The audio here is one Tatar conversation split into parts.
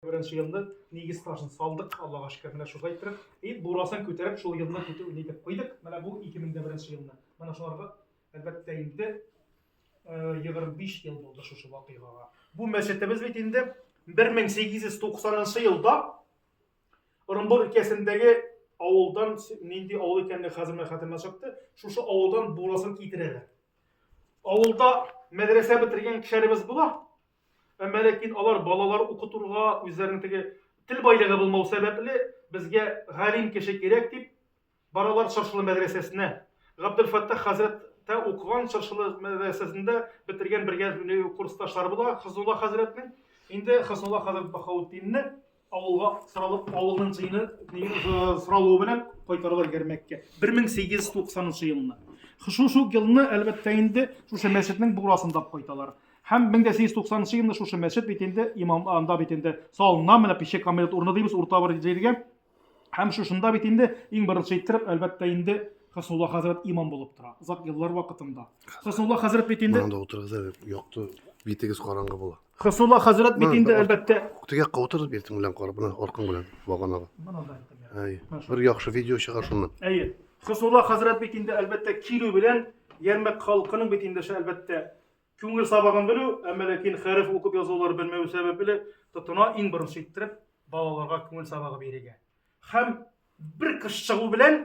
Беренче елны нигез ташын салдык, Аллага шөкер, менә шулай иттереп. И бурасын күтәреп, шул елны көтү нитеп куйдык. Менә бу 2001 елны. Менә шуларга әлбәттә инде 25 ел булды шушы вакыйгага. Бу мәчетебез бит инде 1890 елда Орынбур өлкәсендәге авылдан нинди авыл икәнлеге хәзер менә хәтеремә чыкты. Шушы авылдан бурасын китерәләр. Авылда мәдрәсә бетергән кешеләребез була. Әмма ләкин алар балалар укытырга, үзләренең теге тел байлыгы булмау сәбәпле, безгә галим кеше кирәк дип баралар Чыршылы мәдрәсәсенә. Габделфәттах хәзрәт тә укыган Чыршылы мәдрәсәсендә бетергән бергә курсташлары була Хознулла хәзрәтнең. Инде Хознулла хәзрәт Баһаутдинне Авылга сыралып, авылның җыены сыралуы белән кайтаралар Гәрмәккә. 1893 елны. Шул шул елны, әлбәттә, инде шушы мәчетнең бурасында кайталар. Һәм 1890 елны шушы мәчет бит инде имам анда бит инде салына менә пеше камилет урыны дибез урта бер җиргә. Һәм шушында бит инде иң беренче иттереп, әлбәттә, инде Хәснулла хәзрәт имам булып тора. Озак еллар вакытында. Хәснулла хәзрәт бит инде. Монда утырыгыз әле, якты, битегез караңгы була. Хысулла хәзрәт бит инде әлбәттә. Тегә каутыр бирдем белән карап, менә аркан белән баганага. Әй, бер яхшы видео чыгар шуннан. Әйе. Хысулла хәзрәт бит инде әлбәттә килү белән Ярмәк халкының бит инде әлбәттә күңел сабагын белү, әмма ләкин хәреф укып язулар белмәү сәбәпле тотына иң беренче иттереп балаларга күңел сабагы бирергә. Һәм бер кыш чыгу белән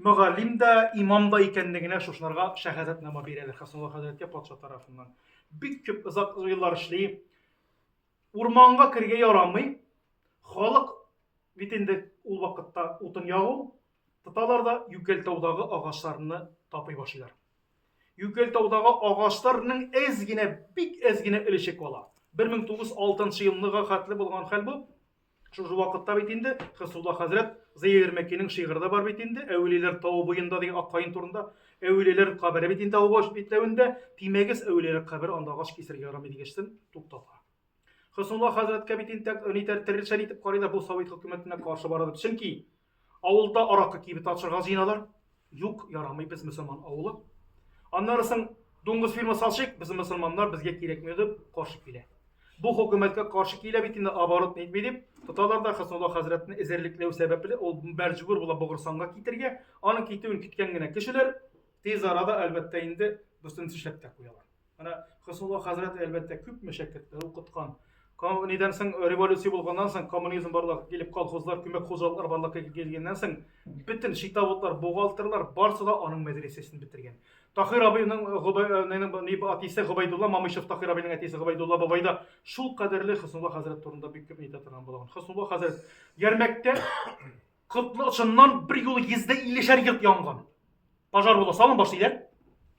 Мөгаллим дә, имам да икәнлегенә шушыларга шәһадәтнама бирәләр Хәсанулла хәзрәткә патша тарафыннан. Бик күп озак еллар эшли. Урманга кергә ярамый. Халык бит инде ул вакытта утын ягу, тоталар да Юкәлтаудагы агачларны тапый башлыйлар. Юкәлтаудагы агачларның әз генә, бик әз генә өлеше кала. 1906 елныга хәтле булган хәл бу. Шушы вакытта бит инде Хисулла хәзрәт Зыя Ирмәкинең шигыре дә бар бит инде, Әүлияләр тавы буенда дигән ак каен турында. Әүлияләр кабере бит инде авыл баш битләвендә, тимәгез, әүлияләр кабере анда агач кисергә ярамый дигәчтен туктата. Хисулла хәзрәткә бит инде нитәр терелшән итеп карыйлар, бу Совет хөкүмәтенә каршы бара дип. Чөнки Авылда аракы кибете ачырга җыеналар. Юк, ярамый, без мөселман авылы. Аннары соң дуңгыз фирмасы ачыйк, без мөселманнар, безгә кирәкми дип каршы килә. Бу хөкүмәткә каршы килә бит инде оборот нитми дип, тоталар да Хәснулла хәзрәтне эзәрлекләү сәбәпле ул мәҗбүр була Богырсанга китергә, аның китүен көткән генә кешеләр тиз арада, әлбәттә, инде бөтенесе эшләп тә куялар. Менә Хосулла хәзрәт әлбәттә күп мәшәкатьләр укыткан. Нидән соң революция булганнан соң, коммунизм барлыкка килеп, колхозлар, күмәк хуҗалыклар барлыкка килгәннән соң, бөтен шитавытлар, бухгалтерлар барысы да аның мәдрәсәсен бетергән. Тахир абыйның э, әтисе Гобайдулла Мамышев, Тахир абыйның әтисе Гобайдулла бабай да шул кадәрле Хоснулла хәзрәт турында бик күп әйтә торган булган. Хоснулла хәзрәт Ярмәктә Котлы очыннан бер юлы йөздә иллешәр йорт янган. Пожар була, салым башлыйлар.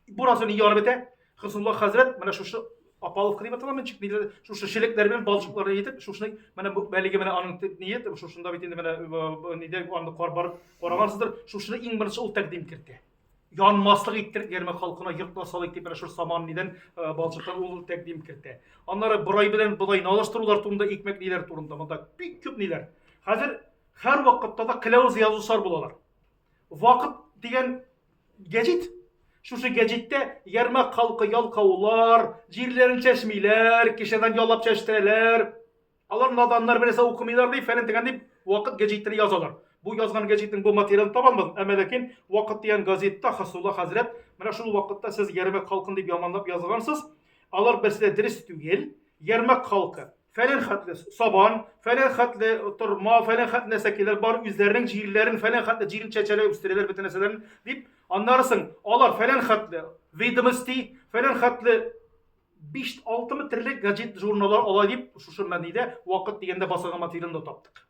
Бурасы не ярып бетә. Хиснулла хәзрәт менә шушы Апаловка дип атала менчик нидер шушы шелекләр белән балчыкларны итеп шушны менә бу бәлеге менә аның ният шушында бит инде менә э, нидә аны кар барып карагансыздыр шушны иң беренче ул тәкъдим кертте янмаслык иттер герман халкына йортна салыйк дип менә шушы саман нидән э, балчыктан ул тәкъдим кертте аннары борай белән бодай налыштырулар турында икмәк ниләр турында монда бик күп ниләр хәзер Хәр вакытта да кыләвез язучылар булалар. Вакыт дигән гәҗит Шушы гәҗиттә ярмак халкы ялкаулар, җирләрен чәчмиләр, кешедән ялап чәчтерәләр. Алар наданнар берәсә укымыйлар дип, фәлән дигән дип вакыт гәҗитен язалар. Бу язган гәҗитнең бу материалын табамыз, әмма ләкин вакыт дигән газетта Хасулла хәзрәт, менә шул вакытта сез ярмак халкын дип яманлап язгансыз, алар берсе дә дөрес түгел, ярмак халкы. фәлән хәтле сабан, фәлән хәтле торма, фәлән хәтле нәрсә килер, бар үзләренең җирләрен, фәлән хәтле җирен чәчәләр, үстерәләр бөтен нәрсәләрен, дип, аннары соң алар фәлән хәтле ведомости, фәлән хәтле 5-6 терлек гаджет журналлар ала дип, шушы мәнидә вакыт дигәндә басылган материалны таптык.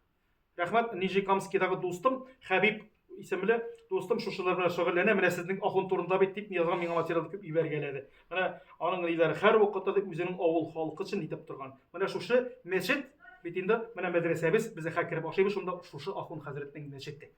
Рәхмәт, Нижнекамскидагы дустым, Хәбиб исемле дустым шушылар белән шөгыльләнә. Менә сезнең ахун турында бит дип язган миңа материал күп ибәргәләде. Менә аның лидеры һәр вакытта да үзенең авыл халкы өчен итеп торган. Менә шушы мәчет бит инде, менә мәдрәсәбез, без хәкереп ашыйбыз шунда шушы ахун хәзрәтнең мәчете.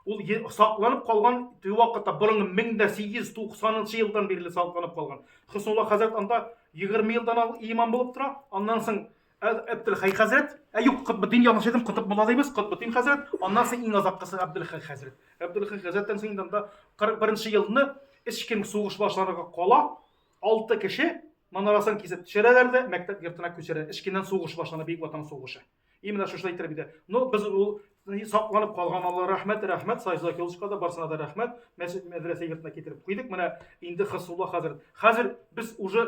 Ул сакланып калган теге вакытта борынгы 1890 елдан бирле сакланып калган. Хөснулла хәзрәт анда 20 елдан ал имам булып тора. Аннан соң Әбдулхай хәзрәт, ә юк, Котбетдин ялгыш әйтем, Котб мулла дибез, Котбетдин хәзрәт, аннан соң иң азаккысы Әбдулхай хәзрәт. Әбдулхай хәзрәттән соң инде анда 41 елны ичким сугыш башларга кала, 6 кеше манарасын кисеп төшерәләр дә мәктәп йортына күчерә. Ичкиннән сугыш башлана, Бөек Ватан сугышы. Именно шушы әйтер бит. Ну, без ул сакланып калган Алла рәхмәт, рәхмәт Сайза Килышка да барсына да рәхмәт. Мәчет мәдрәсә йортына китереп куйдык. Менә инде Хыснулла хәзер. Хәзер без уже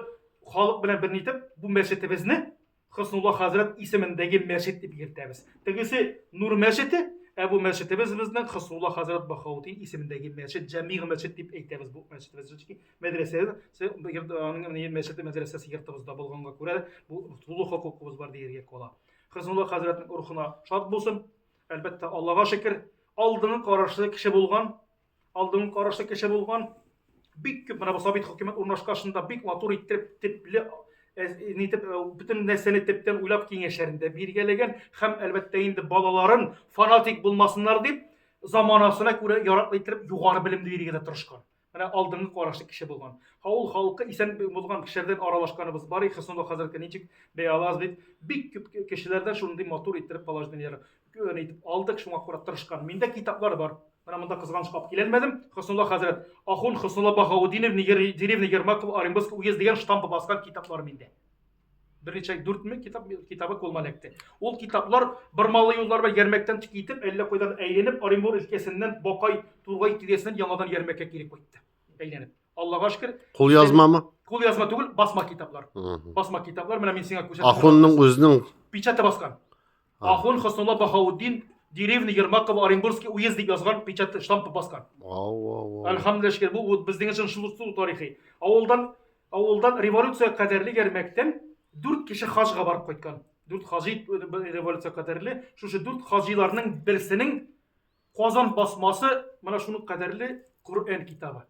халык белән берни итеп бу мәчетебезне Хыснулла хәзрәт исемендәге мәчет дип йөртәбез. Тегесе Нур мәчете, ә бу мәчетебез безнең Хыснулла хәзрәт Бахаутин исемендәге мәчет, Җәмигъ мәчет дип әйтәбез бу мәчетебезне. мәдрәсә аның мәчете мәдрәсәсе йортыбызда булганга күрә бу тулы хокукыбыз бар дияргә була хәзнулла хәзрәтнең рухына шат булсын әлбәттә аллага шөкер алдыңы карашлы кеше булган алдыңы карашлы кеше булган бик күп менә бу сабит хөкүмәт урнашкашында бик матур итеп типле нитеп бөтен нәрсәне төптән уйлап киңәшләрендә биргәләгән һәм әлбәттә инде балаларын фанатик булмасыннар дип заманасына күрә яраклы итеп югары белем бирергә дә тырышкан Менә алдынгы карашлы кеше булган. Авыл халкы исән булган кешеләрдән аралашканыбыз бар, их, соңгы хәзерге ничек бәя алабыз бит. Бик күп кешеләрдән шундый матур иттереп положениеләр гөн итеп алдык, шуңа күрә тырышкан. Миндә китаплар бар. Менә монда кызганыч кап киләлмәдем. Хөснулла хәзрәт, ахун Хөснулла Баһаутдинов, деревня Ермаков, Оренбургский уезд дигән штампы баскан китаплар миндә. Берничә дүрт мең китап китабы кулыма эләкте. Ул китаплар бормалы юллар белән ярмәктән тик итеп, әллә кайдан әйләнеп, Оренбур өлкәсеннән Бакай, Тургай тирәсеннән яңадан ярмәккә кире кайтты. Әйләнеп. Аллага шөкер. Кул язмамы? Кул язма түгел, басма китаплар. Басма китаплар, менә мин сиңа күрсәтәм. Ахунның үзенең печаты баскан. А. Ахун Хөснулла Баһаутдин деревня Ермакова Оренбургский уезд дип язган печать штампы баскан. Әлхәмдулилла шөкер, бу вот безнең өчен шул шул тарихи. Авылдан авылдан революция кадәрле ярмәктән 4 кеше хаҗга барып кайткан. 4 хаҗи революция кадәрле, шушы 4 хаҗиларның берсенең Казан басмасы менә шуның кадәрле Коръән китабы.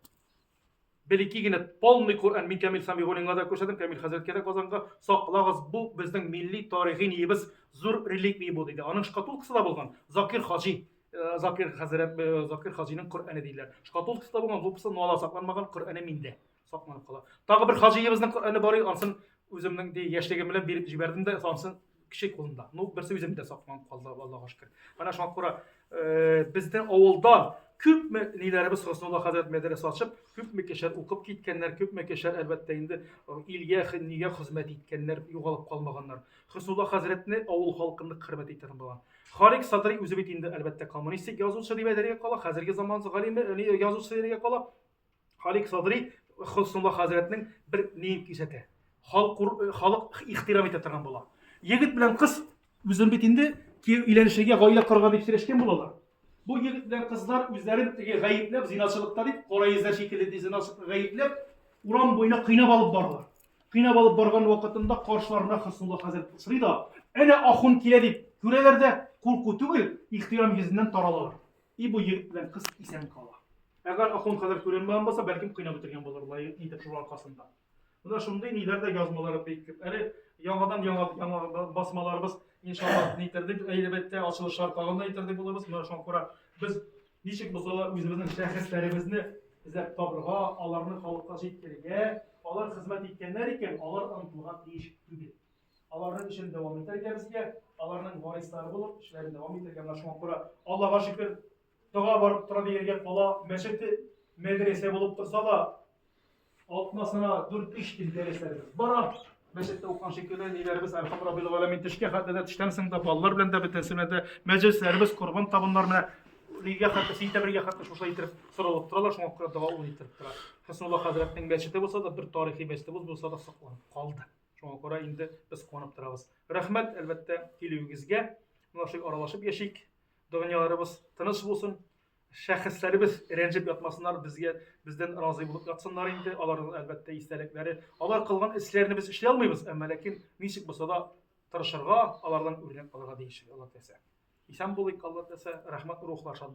Бер ике генә полный Коръән мин Камил Самигуллинга да күрсәтәм, Камил хәзрәткә дә Казанга. Саклагыз, бу безнең милли тарихи ниебез, зур реликвия бу, диде. Аның шкатулкасы да булган. Закир хаҗи, э, Закир хәзрәт, э, Закир хаҗиның Коръәне диләр. Шкатулкасы да булган, лупасы нуала сакланмаган, Коръәне миндә сакланып кала. Тагы бер хаҗиебезнең Коръәне бар иде, ансын үземнең яшьлегем белән биреп җибәрдем дә, ансын кеше кулында. Ну, берсе үзем дә сакланып калды, Аллаһуга шөкер. Менә шуңа күрә э, безнең авылда күпме ниләребез Хоснулла хәзрәт мәдрәсә ачып, күпме кешеләр укып киткәннәр, күпме кешеләр әлбәттә инде э, илгә, нигә хезмәт иткәннәр, югалып калмаганнар. Хоснулла хәзрәтне авыл халкында хөрмәт итә булган. Харик Садри үзе бит инде әлбәттә коммунистик язучы дип әйтергә кала, хәзерге заман галиме, э, язучысы дип әйтергә кала. Халик Садри Хөснулла хәзрәтнең бер ниен кисәтә. Халык ихтирам итә торган була. Егет белән кыз үзен бит инде өйләнешергә, гаилә корырга дип сөйләшкән булалар. Бу егет белән кызлар үзләрен теге гаепләп, зинасылыкта дип, кара йөзләр шикелле дип зинасылыкта гаепләп, урам буена кыйнап алып баралар. Кыйнап алып барган вакытында каршыларына Хөснулла хәзрәт сорый да, әнә ахун килә дип күрәләр дә, курку түгел, ихтирам йөзеннән таралалар. И бу егет белән кыз исән кала. Әгәр ахун хәзер күренмәгән булса, бәлкем кыйнап бетергән булырлар иде шул аркасында. Менә шундый ниләр дә язмалары бик күп. Әле яңадан яңа яңа басмаларыбыз иншаллаһ нитәрдек, әлбәттә, ачылышлар тагын да итәрдек булабыз. Менә шуңа күрә без ничек булса да үзебезнең шәхесләребезне эзләп табырга, аларны халыкка җиткерергә, алар хезмәт иткәннәр икән, алар онытылырга тиеш түгел. Аларның эшен дәвам итәргә безгә, аларның варислары булып, эшләрен дәвам итәргә менә шуңа күрә Аллага шөкер, тога барып тора дигәнгә кала мәчете, мәдрәсә булып торса да, атнасына 4-3 көн дәресләребез бара. Мәчеттә укыган шикелле ниләребез Әлхам Раббил Галәмин төшкә хәтле дә төштән соң да балалар белән дә бөтенесе белән дә мәҗлесләребез, корбан табыннар менә нигә хәтле сентябрьгә хәтле шуша итеп соралып торалар, шуңа күрә дәвам итеп тора. Хәснулла хәзрәтнең мәчете булса да, бер тарихи мәчетебез булса да сакланып калды. Шуңа күрә инде без куанып торабыз. Рәхмәт, әлбәттә, килүегезгә. Менә шулай аралашып яшик. Дөньяларыбыз тыныч булсын. Шәхесләребез рәнҗеп ятмасыннар, безгә бездән разый булып ятсыннар инде. Аларның әлбәттә истәлекләре, алар кылган эшләрне без эшли алмыйбыз, әмма ләкин ничек булса да тырышырга, алардан үрнәк алырга тиеш, Алла теләсә. Исән булыйк, Алла теләсә. Рәхмәт, рухлар шат булсын.